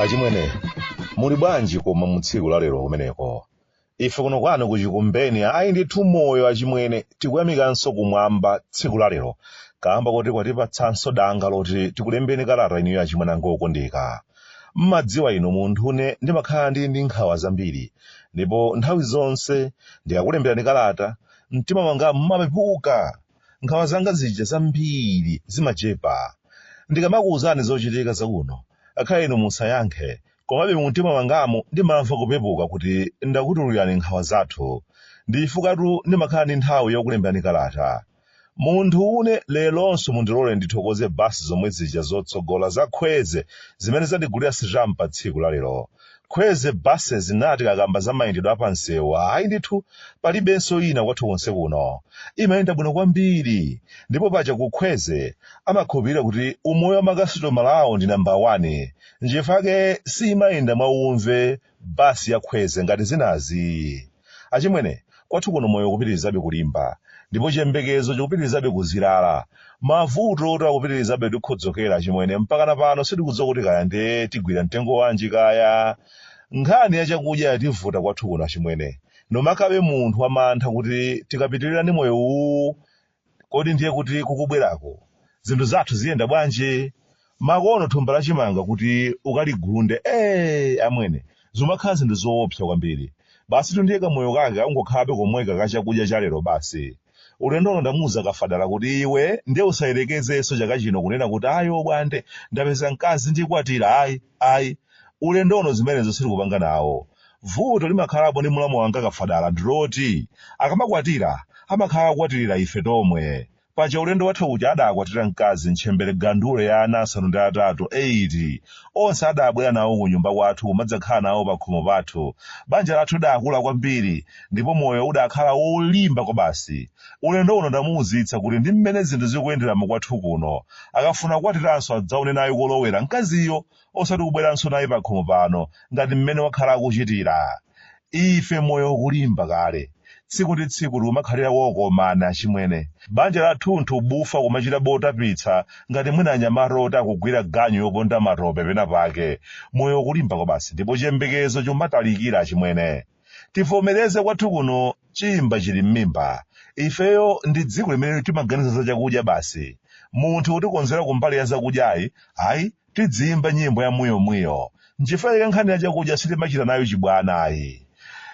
achimwene muli bwanji koma mu tsiku la lero kumeneko ife kuno kwanu ku Chikumbeni ayi ndithu moyo achimwene tikuyamikanso kumwamba tsiku la lero kamba koti kwatipatsanso danga loti tikulembeni kalata inuyo achimwene anga okondeka M'madziwa inu munthune ndimakhala ndi ndi nkhawa zambiri ndipo nthawi zonse ndikakulemberani kalata mtima mwanga mumapepuka. Nkhawa zanga zija zambiri zimachepa ndikamakuuzani zochitika zakuno akhale inu musayankhe komabe mumtima mwangamu ndimamva kupepuka kuti ndakutululirani nkhawa zathu. Ndichifukwa tu ndimakhala ndi nthawi yokulemberani kalata. Munthu une leronso mundilole ndithokoze basi zomwe zija zotsogola za khweze zimene zandigulira sitampa tsiku la lero. Khweze buses inu tikakamba za mayendedwe a pa msewu ayi ndithu palibenso ina kwathu konse kuno imayenda bwino kwambiri ndipo paja ku khweze amakhulupirira kuti umoyo wa makasitomala awo ndi number 1 nchifukwa chake siimayenda mwa umve bus ya khweze ngati zinazi achimwene kwathu kuno moyo ukupitirizabe kulimba ndipo chiyembekezo chikupitirizabe kuzirala mavuto ayi akupitirizabe kutikhodzokera achimwene mpakana pano sitikudziwa kuti kaya ndiye tigwira mtengo wanji kaya nkhani ya chakudya yativuta kwathu kuno achimwene nomakabe munthu wamantha kuti tikapitirira ndi moyo uwu Kodi ndiye kuti kukubweraku zinthu zathu ziyenda bwanji? Makono thumba la chimanga kuti ukaligunde, ee amwene, zumakhala zinthu zoopsa kwambiri. Basitu ndiye kamoyo kake akungokhalabe komweka ka chakudya cha lero basi. Ulendo uno ndamuuza Kafadala kuti iwe ndiye usayerekezenso chaka chino kunena kuti ayi obwande, ndapeza mkazi ndikwatira, ayi, ayi. Ulendo uno zimenezo sitikupanga nawo. Vuto limakhalapo ndi mlamu wanga Kafadala ndiloti akamakwatira amakhala akukwatirira ife tomwe. Paja ulendo watha uja adaakwatira mkazi ntchembere gandule ya ana asanu ndi atatu, 8. Onse adaabwera nawo kunyumba kwathu kumadzakhala nawo pakhomo pathu. Banja lathu lidaakula kwambiri ndipo moyo udaakhala wolimba kwabasi. Ulendo uno ndamuuzitsa kuti ndi mmene zinthu zikuyenderamu kwathu kuno. Akafuna kukwatiranso adzaone naye kolowera mkaziyo. osati kubweranso naye pakhomo pano ngati mmene wakhala akuchitira. Ife moyo ukulimba kale. Tsiku ndi tsiku tikumakhalira okomana achimwene. Banja lathunthu bufa kumachita botapitsa ngati mwina anyamata oti akugwira ganyu yoponda matope penapake. Moyo ukulimba kwabasi ndipo chiyembekezo chikumatalikira achimwene. tivomereze kwathu kuno chimba chili m'mimba ifeyo ndi dziko limene timaganiza za chakudya basi munthu utikonzera kumbali ya zakudyayi ayi tidziyimba nyimbo ya mwiyomwiyo nchifukwa chake nkhani ya chakudya sitimachita nayo chibwana ayi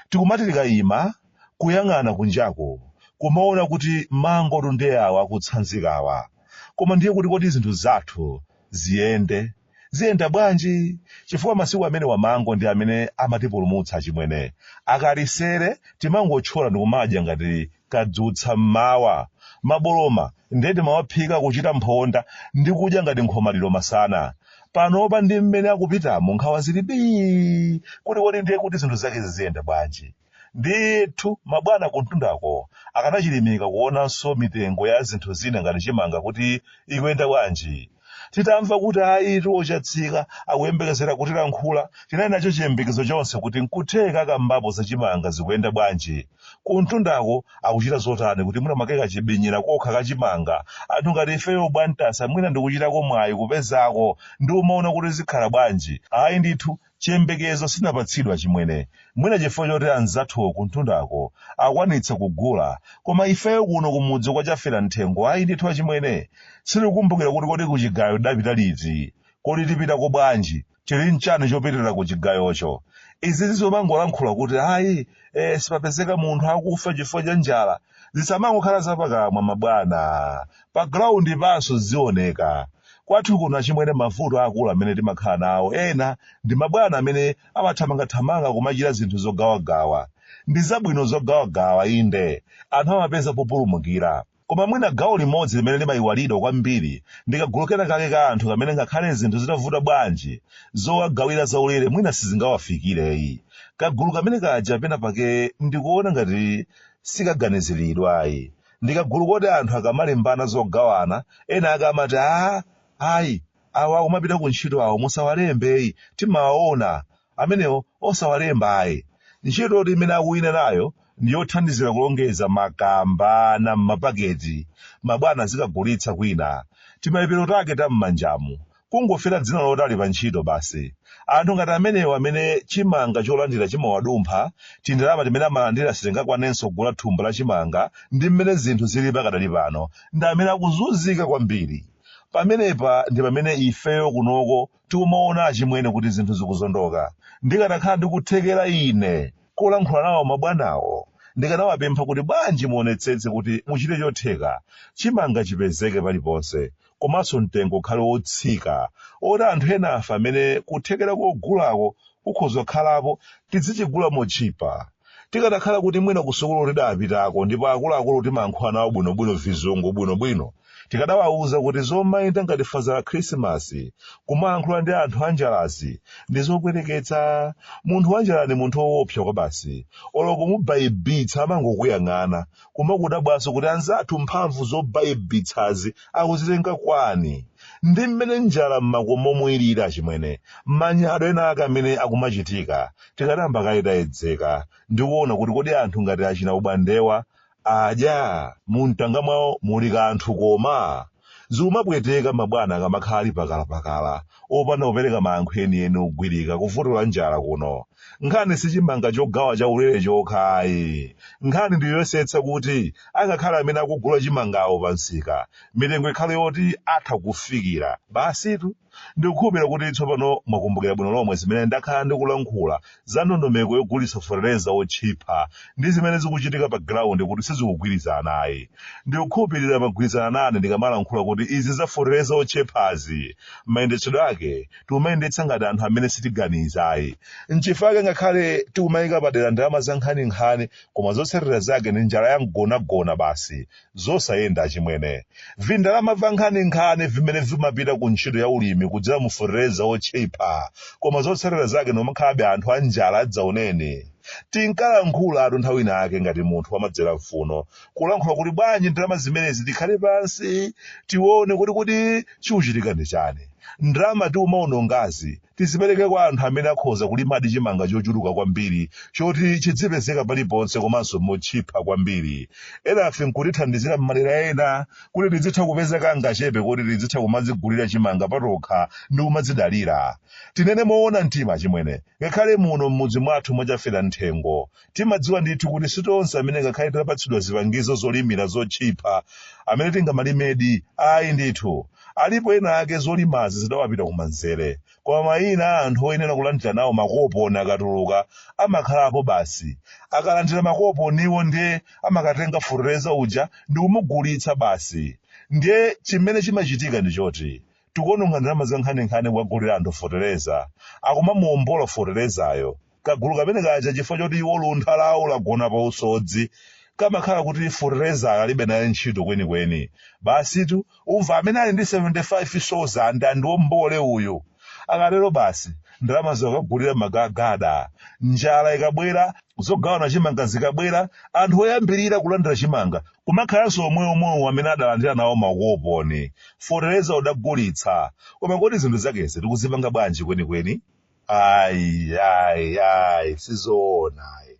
tikumati tikayima kuyang'ana kunjako kumaona kuti mango tundeyawa akutsanzikawa koma ndiye kuti kodi zinthu zathu ziyende Ziyenda bwanji? Chifukwa masiku amenewa mango ndi amene amatipulumutsa achimwene. Akalisere timangotchola ndikumadya ngati kadzutsa m'mawa. Maboloma ndiye timawaphika kuchita mphonda ndi kudya ngati nkhomaliro masana. Panopa ndi mmene akupitamu nkhawa zili bii kuti kodi ndiye kuti zinthu zake ziziyenda bwanji? Ndithu, mabwana kumtundako akanachirimika kuonanso mitengo ya zinthu zina ngati chimanga kuti ikuyenda bwanji. Titamva kuti ayitu a Chatsika akuyembekezera kutilankhula, tinali nacho chiyembekezo chonse kuti n'kutheka akambapo za chimanga zikuyenda bwanji. Kumtundako akuchita zotani kuti mwina mwake kachibinyira kokha ka chimanga anthu ngati ifeyo Bwantasa mwina ndikuchitako mwayi kupezako ndikumaona kuti zikhala bwanji. Ayi ndithu, Chiyembekezo sitinapatsidwe achimwene, mwina chifukwa choti anzathu kumtundako akwanitsa kugula koma ifeyo kuno kumudzi kwa Chaferamthengo ayi ndithu achimwene. Sitikukumbukira kuti kodi kuchigayo tidapita liti? Kodi tipitako bwanji? Tili nchani chopitira kuchigayocho? Izizi zomangolankhula kuti ayi ee sipapezeka munthu akufa chifukwa cha njala zisamangokhala zapakamwa mabwana. Pa ground panso zizioneka. Kwathu kuno achimwene mavuto aakulu amene timakhala nawo ena ndi mabwana amene amathamangathamanga kumachita zinthu zogawagawa. Ndi zabwino zogawagawa inde, anthu amapeza populumukira. Koma mwina gawo limodzi limene limaiwalidwa kwambiri ndi kagulu kenakake ka anthu kamene ngakhale zinthu zitavuta bwanji, zowagawira zaulere mwina sizingawafikireyi. Kagulu kamene kaja pena pake ndikuona ngati sikaganiziridwayi. ndikagulu koti anthu akamalimbana zogawana ena akamati a ayi awa akumapita ku ntchito awo musawalembeyi timawaona amenewo osawalemba ayi ntchito yoti imene akuwina nayo ndi yothandizira kulongeza ma kamba m'mapaketi mabwana zikagulitsa kwina timaipiro take ta m'manjamu kungofera dzina loti ali pa ntchito basi. Anthu ngati amenewa amene chimanga cholandira chimawadumpha, tindalama timene amalandira sitingakwanenso kugula thumba la chimanga ndi mmene zinthu zili pakadali pano, ndi amene akuzunzika kwambiri. Pamenepa ndi pamene ifeyo kunoko tikumaona achimwene kuti zinthu zikuzondoka. Ndikanakhala ndi kuthekera ine kolankhula nawo mabwanawo, ndikanawapempha kuti bwanji muonetsetse kuti muchite chotheka chimanga chipezeke paliponse komanso mtengo ukhale wotsika woti anthu enafe amene kuthekera kogulako kukhoza kukhalapo tidzichigula motchipa. Tikadakhala kuti mwina kusukulu tidapitako ndipo akuluakuluwo timayankhula nawo bwinobwino vizungu bwinobwino, tikadawauza kuti zomayenda ngati Faza Khrisimasi kumayankhula ndi anthu anjalazi ndi zopweteketsa. Munthu wanjala ndi munthu woopsa kwa basi, olo kumubaibitsa amangokuyang'ana Kumadabwanso kuti anzathu mphamvu zobaibitsazi akuzitenga kwani? Ndi mmene njala m'makomomu iliri achimwene, manyado ena ake amene akumachitika tikadayamba kaye tayedzeka ndi kuona kuti kodi anthu ngati achina Ubandewa adya? Mumtanga mwawo muli kanthu koma? Zikumapweteka mabwana akamakhala ali pakalapakala, opanda kupereka mayankho enieni ogwirika ku vuto la njala kuno. Nkhani si chimanga chogawa chaulere chokha ayi. Nkhani ndi yoyesetsa kuti angakhale amene akugula chimangawo pamsika, mitengo ikhale yoti atha kufikira. Basitu. Ndikukhulupirira kuti tsopano mwakumbukira bwino lomwe zimene ndakhala ndikulankhula za ndondomeko yogulitsa fetereza wotchipa ndi zimene zikuchitika pa giraundi kuti sizikugwirizana ayi. Ndikukhulupirira magwirizana nane ndikamalankhula kuti izi za fetereza wotchipazi, mayendetsedwe ake tikumayendetsa ngati anthu amene sitiganiza ayi. N'chifukwa chake ngakhale tikumayika padera ndalama za nkhaninkhani koma zotsatira zake ndi njala ya mgonagona basi zosayenda achimwene. Vindalama vankhaninkhani vimene vimapita ku ntchito ya ulimi kudzera mu fetereza wotchipa koma zotsatira zake ndi kumakhalabe anthu a njala yadzaoneni. Tinkalankhulatu nthawi ina yake ngati munthu wamadzera mfuno, kulankhula kuti bwanji ndalama zimenezi tikhale pansi tione kuti kodi chikuchitika ndi chani. Ndalama tikumawonongazi Tizipereke kwa anthu amene akhoza kulimadi chimanga chochuluka kwambiri choti chidzipezeka paliponse komanso motchipa kwambiri. Enafe n'kutithandizira m'madera ena kuti tidzitha kupeza kangachepe koti tidzitha kumadzigulira chimanga patokha ndi kumadzidalira. Tinene moona mtima achimwene, ngakhale muno m'mudzi mwathu mwa Chafera Mthengo, Timadziwa ndithu kuti si tonse amene ngakhale titapatsidwa zipangizo zolimira zotchipa amene tingamalimedi. Ayi ndithu. Alipo ena ake zolimazi zidawapita kumanzere. Koma maina a anthu oyenera kulandira nawo makoponi akatuluka amakhalapo basi. Akalandira makoponiwo ndiye amakatenga fetereza uja ndi kumugulitsa basi. Ndiye chimene chimachitika ndi choti tikuononga ndalama zankhaninkhani kukagulira anthu fetereza, akumamuombola feterezayo. kagulu kamene kaja chifukwa choti iwo luntha lawo lagona pa usodzi kamakhala kuti fertilizer alibe naye ntchito kwenikweni basitu ukumva amene ali ndi 75 sauzande andiwombole uyu akatero basi ndalama azikagulira magagada njala ikabwera zogawana chimanga zikabwera anthu oyambirira kulandira chimanga kumakhalanso omweomwewo amene adalandira nawo makoponi fertilizer n'kudagulitsa koma kodi zinthu zakezi tikuzipanga bwanji kwenikweni ayi ayi ayi sizoona ayi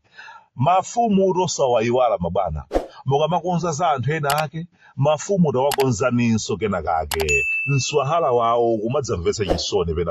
mafumu tosawayiwala mabwana mukamakonza za anthu ena ake mafumu tawakonzaninso kenakake mswahala wawo umadzamvetsa chisoni pena